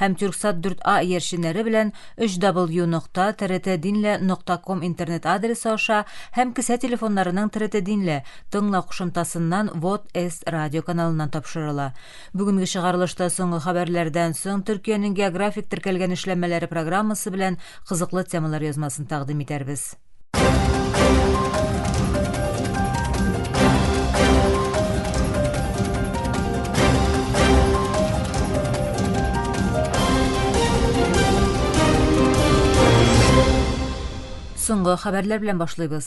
һәм Тюрксат 4А иярченнәре белән www.trtdinle. Com интернет адресы аша һәм кесә телефоннарының Тртдинле, тыңла кушымтасыннан Вот С радио каналыннан тапшырыла. Бүгенге чыгарылышта соңгы хәбәрләрдән соң Төркиянең географик теркәлгән эшләнмәләре программасы белән кызыклы темалар язмасын тәкъдим итәрбез. Соңгы хәбәрләр белән башлыйбыз.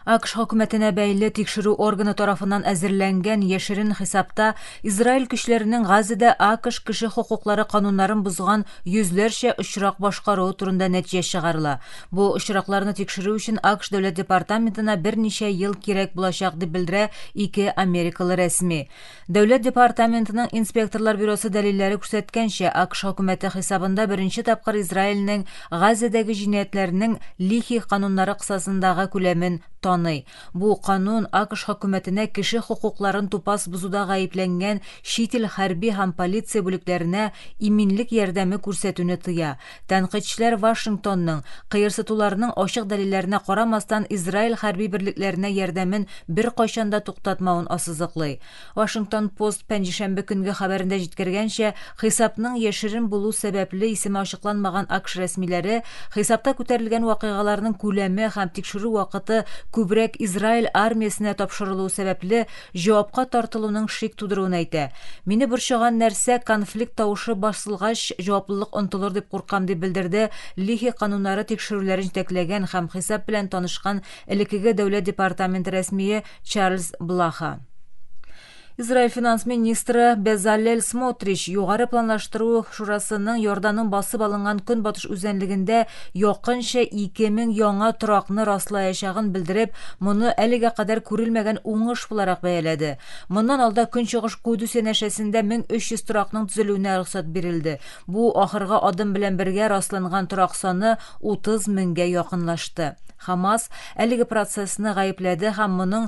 АКШ хөкүмәтенә бәйле тикшерү органы тарафыннан әзерләнгән яшерен хисапта Израиль көчләренең Газада АКШ кеше хокуклары кануннарын бозган йөзләрчә очрак башкаруы турында нәтиҗә чыгарыла. Бу очракларны тикшерү өчен АКШ дәүләт департаментына берничә ел кирәк булачак, дип белдерә ике америкалы рәсми. Дәүләт департаментының инспекторлар бюросы дәлилләре күрсәткәнчә, АКШ хөкүмәте хисабында беренче тапкыр Израильнең Газәдәге җинаятьләрнең Лихи кануннары кысасындагы күләмен таный. Бу канун АКШ хөкүмәтенә кеше хокукларын тупас бозуда гаепләнгән чит ил хәрби һәм полиция бүлекләренә иминлек ярдәме күрсәтүне тыя. Тәнкыйтьчеләр Вашингтонның, кыерсытуларның ачык дәлилләренә карамастан, Израиль хәрби берлекләренә ярдәмен беркайчан да туктатмавын ассызыклый. Вашингтон пост пәнҗешәмбе көнге хәбәрендә җиткергәнчә, хисапның яшерен булу сәбәпле исеме ачыкланмаган АКШ рәсмиләре хисапта күтәрелгән вакыйгаларның күләме һәм тикшерү вакыты күбрәк Израиль армиясенә тапшырылуы сәбәпле җавапка тартылуның шик тудыруын әйтә. Мине борчыган нәрсә, конфликт тавышы басылгач, җаваплылык онтылыр дип куркам, дип белдерде Лихи кануннары тикшерүләрен җитәкләгән һәм хисап белән танышкан элекеге Дәүләт департаменты рәсмие Чарльз Блаха. Израиль финанс министры Безалель Смотрич Югары планлаштыру шурасының Иорданның басып алынган көнбатыш үзәнлегендә Якынча 2000 яңа торакны раслаячагын белдереп, моны әлегә кадәр күрелмәгән уңыш буларак бәяләде. Моннан алда Көнчыгыш Кудус янәшәсендә 1300 торакның төзелүенә рөхсәт бирелде. Бу ахыргы адым белән бергә расланган торак саны 30 меңгә якынлашты. Хамас әлеге процессны гаепләде һәм моның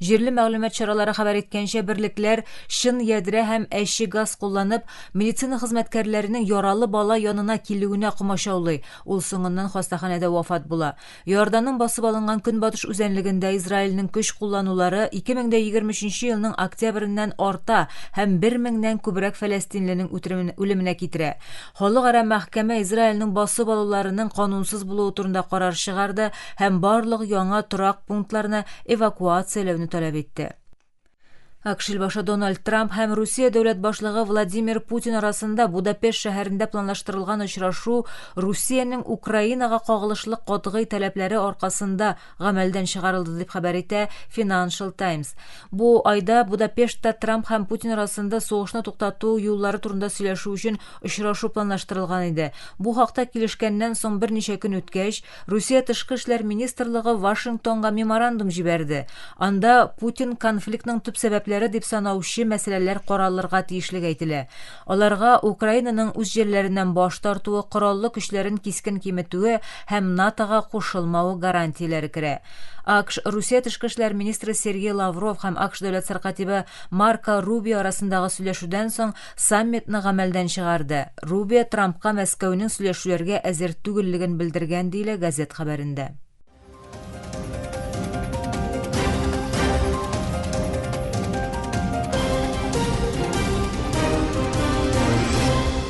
Җирле мәгълүмат чаралары хәбәр иткәнчә, берлекләр чын ядрә һәм әче газ кулланып, медицина хезмәткәрләренең яралы бала янына килүенә комачаулый, ул соңыннан хастаханәдә вафат була. Иорданның басып алынган көнбатыш үзәнлегендә Израильнең көч кулланулары 2023 елның октябреннән арта һәм бер меңнән күбрәк фәләстинленең үтеременә үлеменә китерә. Халыкара мәхкәмә Израильнең басып алуларының канунсыз булуы турында карар чыгарды һәм барлык яңа торак пунктларны эвакуацияләүне таләп итте. АКШ башы Дональд Трамп һәм Русия дәүләт башлыгы Владимир Путин арасында Будапешт шәһәрендә планлаштырылган очрашу Русиянең Украинага кагылышлы катгый таләпләре аркасында гамәлдән чыгарылды дип хәбәр итә Financial Times. Бу айда Будапештта Трамп һәм Путин арасында сугышны туктату юллары турында сөйләшү өчен очрашу планлаштырылган иде. Бу хакта килешкәннән соң берничә көн үткәч, Русия тышкы эшләр министрлыгы Вашингтонга меморандум җибәрде. Анда Путин конфликтның төп сәбәпләре дип санаучы мәсьәләләр каралырга тиешлеге әйтелә. Аларга Украинаның үз җирләреннән баш тартуы, кораллы көчләрен кискен киметүе һәм НАТОга кушылмавы гарантияләре керә. АКШ, Русия тышкы эшләр министры Сергей Лавров һәм АКШ дәүләт сәркатибе Марко Рубио арасындагы сөйләшүдән соң саммитны гамәлдән чыгарды. Рубио Трампка Мәскәүнең сөйләшүләргә әзер түгеллеген белдергән, диелә газет хәбәрендә.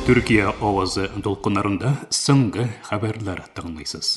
Төркия авазы дулкыннарында соңгы хәбәрләр тыңлыйсыз.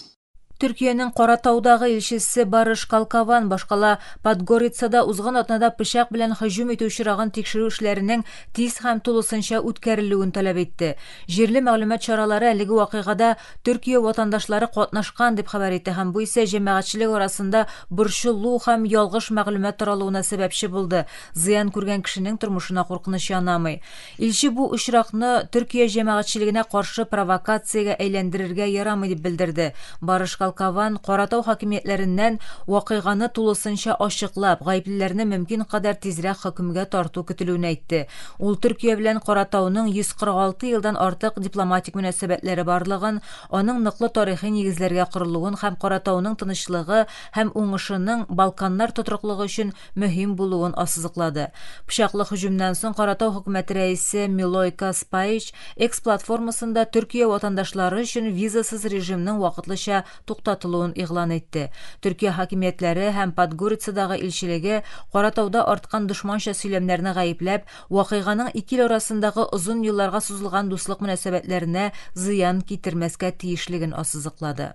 Төркиянең Каратаудагы илчесе Барыш Калкаван башкала Подгорицада узган атнада пычак белән һөҗүм итү очрагын тикшерү эшләренең тиз һәм тулысынча үткәрелүен таләп итте. Җирле мәгълүмат чаралары әлеге вакыйгада Төркия ватандашлары катнашкан, дип хәбәр итә һәм бу исә җәмәгатьчелек арасында борчылу һәм ялгыш мәгълүмат таралуына сәбәпче булды, зыян күргән кешенең тормышына куркыныч янамый. Илче бу очракны Төркия җәмәгатьчелегенә каршы провокациягә әйләндерергә ярамый дип белдерде. Барыш Калкован Каратау хакимиятләреннән вакыйганы тулысынча ачыклап, гаеплеләрне мөмкин кадәр тизрәк хөкемгә тарту көтелүен әйтте. Ул Төркия белән Каратауның 146 елдан артык дипломатик мөнәсәбәтләре барлыгын, аның ныклы тарихи нигезләргә корылуын һәм Каратауның тынычлыгы һәм уңышының Балканнар тотрыклыгы өчен мөһим булуын ассызыклады. Пычаклы һөҗүмнән соң Каратау Хөкүмәте рәисе Милойка Спаич X платформасында Төркия ватандашлары өчен визасыз режимның вакытлыча туктатылуын игълан итте. Төркия хакимиятләре һәм Подгорицадагы илчелеге, Каратауда арткан дошманча сөйләмнәрне гаепләп, вакыйганың ике ил арасындагы озын елларга сузылган дуслык мөнәсәбәтләренә зыян китермәскә тиешлеген ассызыклады.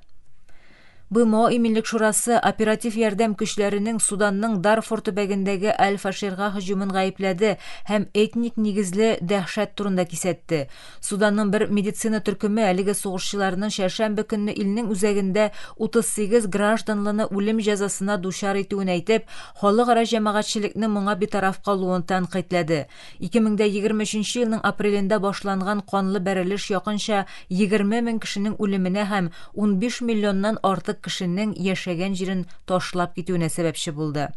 БМО Иминлек шурасы оператив ярдәм көчләренең Суданның Дарфур төбәгендәге Аль-Фаширга һөҗүмен гаепләде һәм этник нигезле дәһшәт турында кисәтте. Суданның бер медицина төркеме әлеге сугышчыларны чәршәмбе көнне илнең үзәгендә 38 гражданлыны үлем җәзасына дучар итүен әйтеп, халыкара җәмәгатьчелекне моңа битараф калуын тәнкыйтьләде. 2023 елның апрелендә башланган канлы бәрелеш якынча 20 мең кешенең үлеменә һәм 15 миллионнан артык кешенең яшәгән җирен ташлап китүенә сәбәпче булды.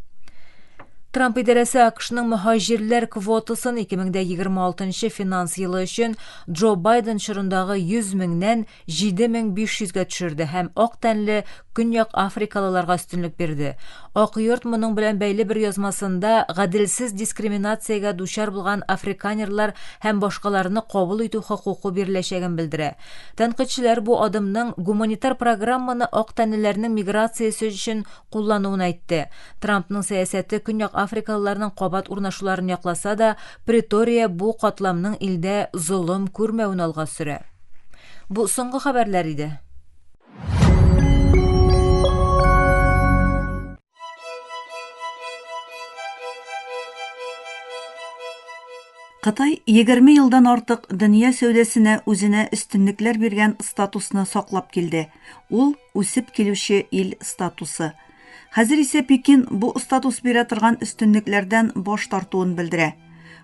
Трамп идарәсе АКШның мөһаҗирләр квотасын 2026 финанс елы өчен Джо Байден чорындагы 100 меңнән 7500 гә төшерде һәм ак тәнле Көньяк Африкалыларга өстенлек бирде. Ак йорт моның белән бәйле бер язмасында гаделсез дискриминациягә дучар булган африканерлар һәм башкаларны кабул итү хокукы биреләчәген белдерә. Тәнкыйтьчеләр бу адымның гуманитар программаны ак тәнлеләрнең миграциясе өчен куллануын әйтте. Трампның сәясәте Көньяк Африкалыларның кабат урнашуларын якласа да, Претория бу катламның илдә золым күрмәвен алга сөрә. Бу соңгы хәбәрләр иде. Кытай 20 елдан артык дөнья сәүдәсенә үзенә өстенлекләр биргән статусны саклап килде. Ул, үсеп килүче ил статусы. Хәзер исә Пекин бу статус бирә торган өстенлекләрдән баш тартуын белдерә.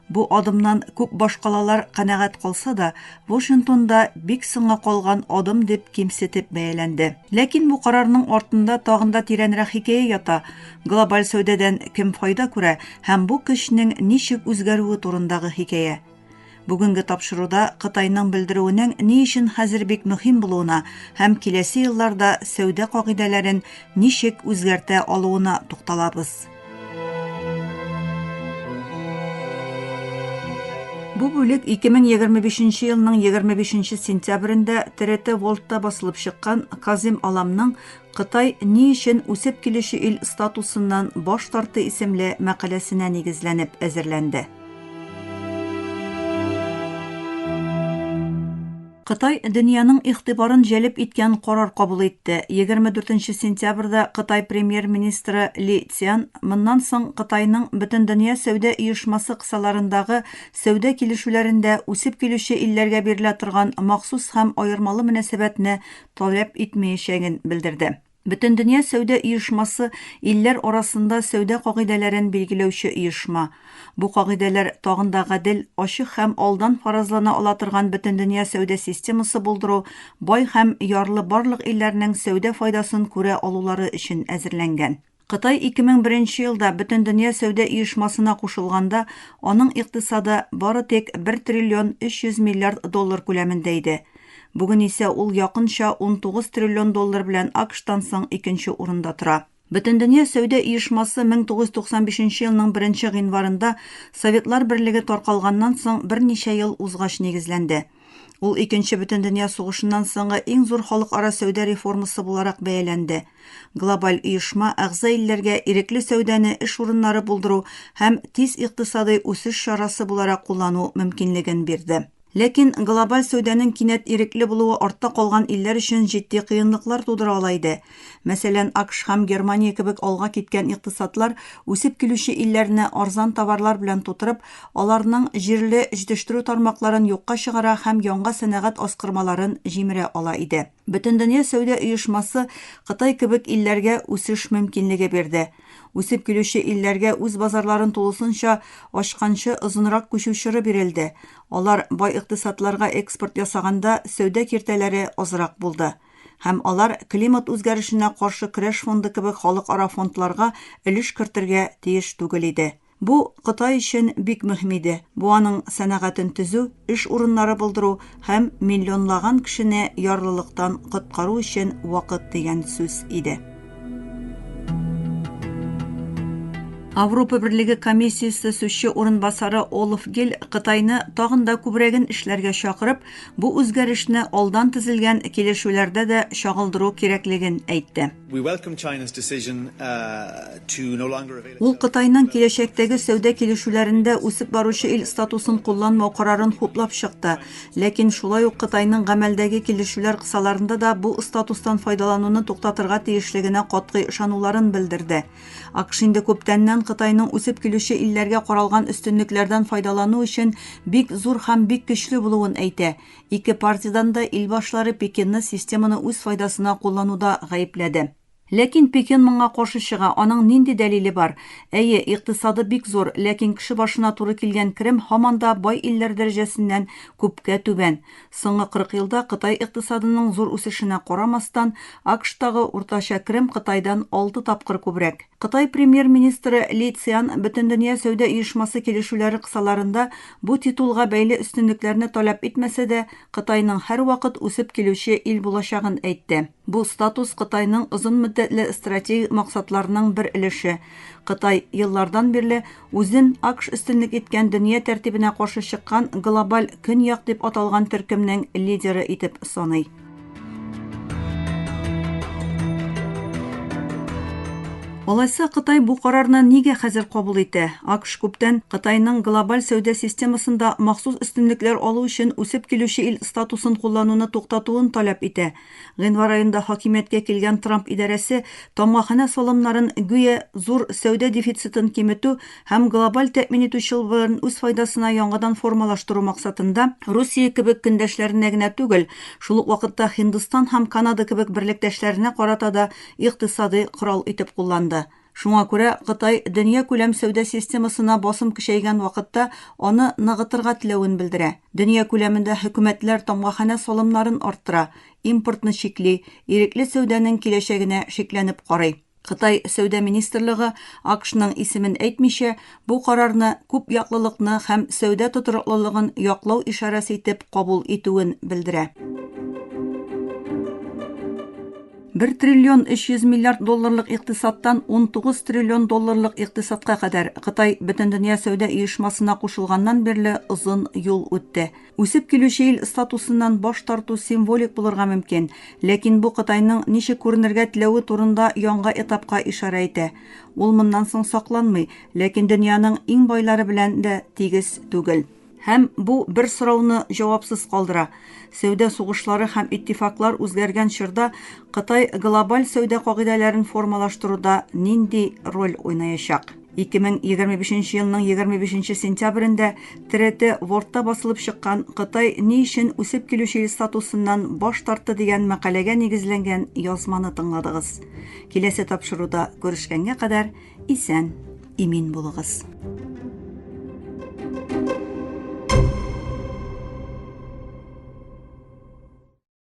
Бу адымнан күп башкалалар канәгать калса да, Вашингтонда бик соңга калган адым дип кимсетеп бәяләнде. Ләкин бу карарның артында тагын да тирәнрәк хикәя ята. Глобаль сәүдәдән кем файда күрә һәм бу көчнең ничек үзгәрүе турындагы хикәя. Бүгенге тапшыруда Кытайның белдерүенең ни өчен хәзер бик мөһим булуына һәм киләсе елларда сәүдә кагыйдәләрен ничек үзгәртә алуына тукталабыз. Бу бүлек 2025 елның 25 сентябрендә ТРТ Волтта басылып чыккан Казим Аламның Кытай ни өчен үсеп килүче ил статусыннан баш тартты исемле мәкаләсенә нигезләнеп әзерләнде. Кытай дөньяның игътибарын җәлеп иткән карар кабул итте. Егерме дүртенче сентябрьдә Кытай премьер-министры Ли Цзян моннан соң Кытайның Бөтендөнья сәүдә оешмасы кысаларындагы сәүдә килешүләрендә үсеп килүче илләргә бирелә торган махсус һәм аермалы мөнәсәбәтне таләп итмәячәген белдерде. Бөтендөнья сәүдә оешмасы илләр арасында сәүдә кагыйдәләрен билгеләүче оешма. Бу кагыйдәләр тагын да гадел, ачык һәм алдан фаразлана ала торган бөтендөнья сәүдә системасы булдыру, бай һәм ярлы барлык илләрнең сәүдә файдасын күрә алулары өчен әзерләнгән. Кытай 2001 нче елда Бөтендөнья сәүдә оешмасына кушылганда, аның икътисады бары тик 1 триллион 300 миллиард доллар күләмендә иде. Бүген исә ул якынча 19 триллион доллар белән АКШтан соң икенче урында тора. Бөтендөнья сәүдә оешмасы 1995 нче елның беренче гыйнварында Советлар Берлеге таркалганнан соң берничә ел узгач нигезләнде. Ул Икенче бөтендөнья сугышыннан соңгы иң зур халыкара сәүдә реформасы буларак бәяләнде. Глобаль оешма әгъза илләргә ирекле сәүдәне эш урыннары булдыру һәм тиз икътисадый үсеш чарасы буларак куллану мөмкинлеген бирде. Ләкин глобаль сәүдәнең кинәт ирекле булуы артта калган илләр өчен җитди кыенлыклар тудыра ала иде. Мәсәлән, АКШ һәм Германия кебек алга киткән икътисадлар үсеп килүче илләрне арзан товарлар белән тутырып, аларның җирле җитештерү тармакларын юкка чыгара һәм яңа сәнәгать аскырмаларын җимерә ала иде. Бөтендөнья сәүдә оешмасы Кытай кебек илләргә үсеш мөмкинлеге бирде. Үсеп килүче илләргә үз базарларын тулысынча ачканчы озынрак күчү чоры бирелде. Алар бай икътисадларга экспорт ясаганда сәүдә киртәләре азрак булды. һәм алар Климат үзгәрешенә каршы көрәш фонды кебек халыкара фондларга өлеш кертергә тиеш түгел иде. Бу Кытай өчен бик мөһим иде, бу аның сәнәгатен төзү, эш урыннары булдыру һәм миллионлаган кешене ярлылыктан коткару өчен вакыт дигән сүз иде. Авропа берлеге комиссиясе сүзче урынбасары Олаф Гиль Кытайны тагын да күбрәген эшләргә чакырып, Бу үзгәрешне алдан төзелгән килешүләрдә дә чагылдыру кирәклеген әйтте. Ул Кытайның киләчәктәге сәүдә килешүләрендә үсеп баручы ил статусын кулланмау карарын хуплап чыкты, ләкин шулай ук Кытайның гамәлдәге килешүләр кысаларында да бу статустан файдалануны туктатырга тиешлегенә катгый ышануларын белдерде. АКШ инде күптәннән Кытайның үсеп килүче илләргә каралган өстенлекләрдән файдалану өчен бик зур һәм бик көчле булуын әйтә. Ике партиядән дә ил башлары Пекинны системаны үз файдасына куллануда гаепләде. Ләкин Пекин моңа каршы чыга, аның нинди дәлиле бар? Әйе, икътисады бик зур, ләкин кеше башына туры килгән керем һаман да бай илләр дәрәҗәсеннән күпкә түбән. Соңгы 40 елда Кытай икътисадының зур үсешенә карамастан, АКШтагы уртача керем Кытайдан алты тапкыр күбрәк. Кытай премьер-министры Ли Цзян Бөтендөнья сәүдә оешмасы килешүләре кысаларында бу титулга бәйле өстенлекләрне таләп итмәсә дә, Кытайның һәрвакыт үсеп килүче ил булачагын әйтте. Бу статус Кытайның озын мөддәтле стратегик максатларының бер өлеше. Кытай еллардан бирле Үзен АКШ өстенлек иткән дөнья тәртибенә каршы чыккан глобаль Көньяк дип аталган төркемнең лидеры итеп саный. Алайса, Кытай бу карарны нигә хәзер кабул итә? АКШ күптән Кытайның глобаль сәүдә системасында махсус өстенлекләр алу өчен үсеп килүче ил статусын куллануны туктатуын таләп итә. Гыйнвар аенда хакимияткә килгән Трамп идарәсе тамгаханә салымнарын, гүя, зур сәүдә дефицитын киметү һәм глобаль тәэмин итү чылбырын үз файдасына яңадан формалаштыру максатында, Русия кебек көндәшләренә генә түгел, шул ук вакытта Һиндстан һәм Канада кебек берлектәшләренә карата да икътисади корал итеп кулланды. Шуңа күрә Кытай дөньякүләм сәүдә системасына басым көчәйгән вакытта аны ныгытырга теләвен белдерә. Дөнья күләмендә хөкүмәтләр тамгаханә салымнарын арттыра, импортны чикли, ирекле сәүдәнең киләчәгенә шикләнеп карый. Кытай сәүдә министрлыгы, АКШның исемен әйтмичә, Бу карарны күп яклылыкны һәм сәүдә тотрыклылыгын яклау ишарәсе итеп кабул итүен белдерә. Бер триллион 300 миллиард долларлык икътисадтан 19 триллион долларлык икътисадка кадәр Кытай Бөтендөнья сәүдә оешмасына кушылганнан бирле озын юл үтте. Үсеп килүче ил статусыннан баш тарту символик булырга мөмкин, ләкин бу Кытайның ничек күренергә теләве турында яңга этапка ишарә итә. Ул моннан соң сакланмый, ләкин дөньяның иң байлары белән дә тигез түгел. Һәм бу бер сорауны җавапсыз калдыра, сәүдә сугышлары һәм иттифаклар үзгәргән чорда Кытай глобаль сәүдә кагыйдәләрен формалаштыруда нинди роль уйнаячак? 2025 нче елның 25 нче сентябрендә ТРТ Вордта басылып чыккан Кытай ни өчен үсеп килүче ил статусыннан баш тартты дигән мәкаләгә нигезләнгән язманы тыңладыгыз. Киләсе тапшыруда күрешкәнгә кадәр исән, имин булыгыз.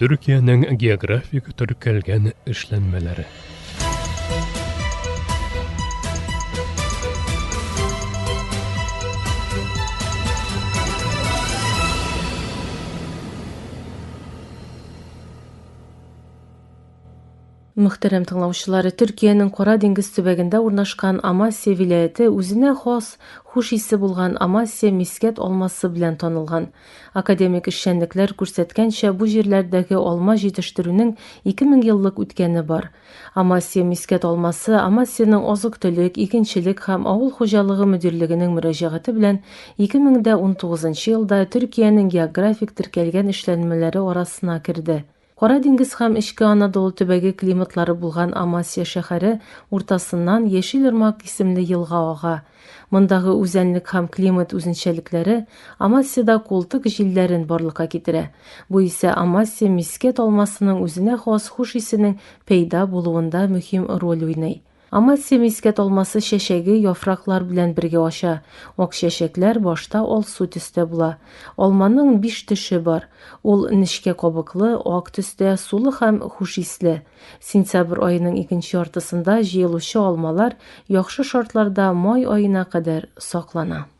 Төркиянең географик төркәлгән эшләнмәләре. Мөхтәрәм тыңлаучылар, Төркиянең Кара диңгез төбәгендә урнашкан Амасия вилаяте үзенә хас хуш исе булган Амасия мискәт алмасы белән танылган. Академик эшчәнлекләр күрсәткәнчә, бу җирләрдәге алма җитештерүнең 2000 еллык үткәне бар. Амасия мискәт алмасы Амасиянең азык-төлек, игенчелек һәм авыл хуҗалыгы мөдирлегенең мөрәҗәгате белән 2019 елда Төркиянең географик теркәлгән эшләнмәләре арасына керде. Кара диңгез һәм Эчке Анадолу төбәге климатлары булган Амасия шәһәре уртасыннан Яшел Ермак исемле елга ага. Мондагы үзәнлек һәм климат үзенчәлекләре Амасиядә култык җилләрен барлыкка китерә. Бу исә Амасия мискәт алмасының үзенә хас хуш исенең пәйда булуында мөһим роль уйный. Амасия мискәт алмасы чәчәге яфраклар белән бергә ача. Ак чәчәкләр башта алсу төстә була. Алманың биш төше бар. Ул нечкә кабыклы, ак төстә, сулы һәм хуш исле. Сентябрь аеның икенче яртысында җыелучы алмалар яхшы шартларда май аена кадәр саклана.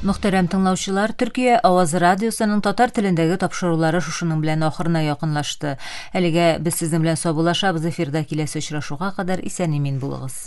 Мөхтәрәм тыңлаучылар, Төркия Авазы радиосының татар телендәге тапшырулары шушының белән ахырына якынлашты. Әлегә без сезнең белән саубулашабыз эфирда киләсе очрашуга кадәр исән-имин булыгыз.